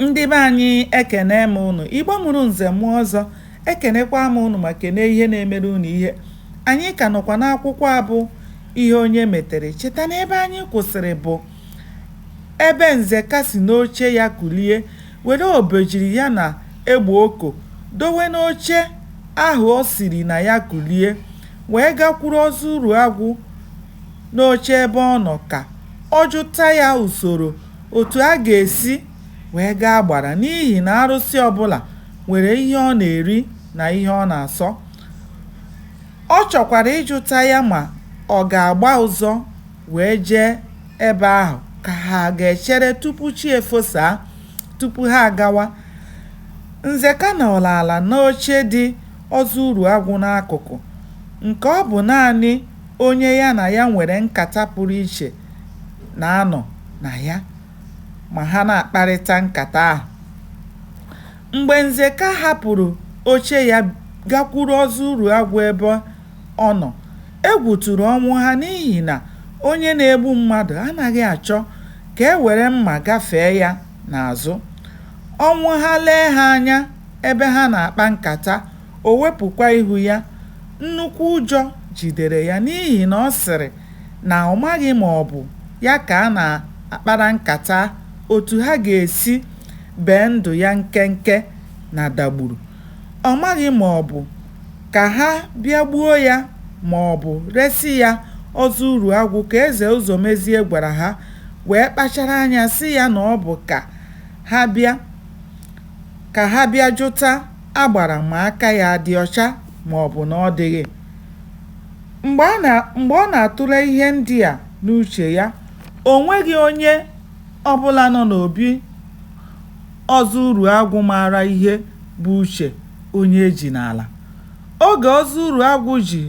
Ndị be anyị ekene m ụnụ, Igbo mụrụ nze mụọ ọzọ, ekenekwa m ụnụ ma kene ihe na-emere ụnụ ihe. Anyị ka nọkwa n'akwụkwọ a bụ Ihe Onye Metere. Cheta na ebe anyị kwụsịrị bụ ebe Nzeka si n'oche ya kulie were obejiri ya na egbe oko dowe n'oche ahụ o siri na ya kulie wee gakwuru Ọzọ Uruagwụ n'oche ebe ọ nọ ka ọ jụta ya usoro otu a ga-esi wee gaa Agbara n'ihi na arụsị ọbụla nwere ihe ọ na-eri na ihe ọ na-asọ. Ọ chọkwara ịjụta ya ma ọ ga-agba ụzọ wee jee ebe ahụ ka ha ga-echere tupu chi efosaa tupu ha agawa. Nzeka nọrọ ala n'oche dị Ọzọ Uruagwụ n'akụkụ nke ọ bụ naanị onye ya na ya nwere nkata pụrụ iche na-anọ na ya ma ha na-akparịta nkata ahụ. Mgbe Nzeka hapụrụ oche ya gakwuru Ọzọ Uruagwụ ebe ọ nọ, egwu tụrụ Ọnwụha n'ihi na onye na-egbu mmadụ anaghị achọ ka e were mma gafee ya n'azụ. Ọnwụha lee ha anya ebe ha na-akpa nkata, o wepụkwa ihu ya. Nnukwu ụjọ jidere ya n'ihi na ọ sịrị na ọ maghị ma ọ bụ ya ka a na-akpara nkata otu ha ga-esi bee ndụ ya nkenke na Dagburu. Ọ maghị ma ọ bụ ka ha bịa gbuo ya ma ọ bụ resị ya Ọzọ Uruagwụ ka Eze Ụzọmezie gwara ha wee kpachara anya sị ya na ọ bụ ka ha bịa jụta Agbara ma aka ya dị ọcha ma ọ bụ na ọ dịghị. Mgbe ọ na-atụle ihe ndị a n'uche ya, o nweghị onye ọ bụla nọ n'obi Ọzọ Uruagwụ maara ihe bụ uche onye e ji n'ala. Oge Ọzọ Uruagwụ ji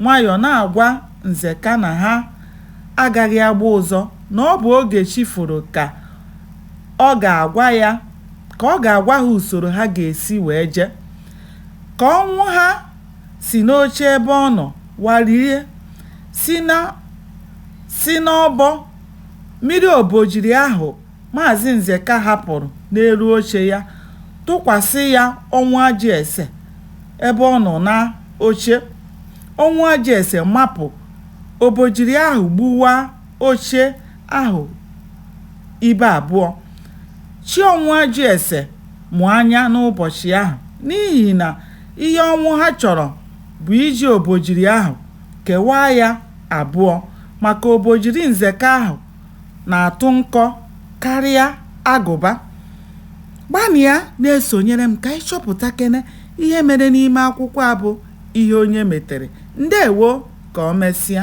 nwayọọ na-agwa Nzeka na ha agaghị agba ụzọ na ọ bụ oge chi foro ka ọ ga-agwa ya ka ọ ga-agwa ha usoro ha ga-esi wee je, ka Ọnwụha si n'oche ebe ọ nọ warie, si n'ọbọ mịrị obojiri ahụ Maazị Nzeka hapụrụ n'elu oche ya tụkwasị ya Ọnwụajụese ebe ọ nọ n'oche. Ọnwụajụese mapụ, obojiri ahụ gbuwaa oche ahụ ibe abụọ. Chi Ọnwụajụese mụ anya n'ụbọchị ahụ n'ihi na Ihe ọnwụ ha chọrọ bụ iji obojiri ahụ kewaa ya abụọ maka obojiri Nzeka ahụ na-atụ nkọ karịa agụba. Gbanịa na-esonyere m ka anyị chọpụtakene ihe mere n'ime akwụkwọ a bụ Ihe Onye Metere. Ndewo! Ka o mesịa.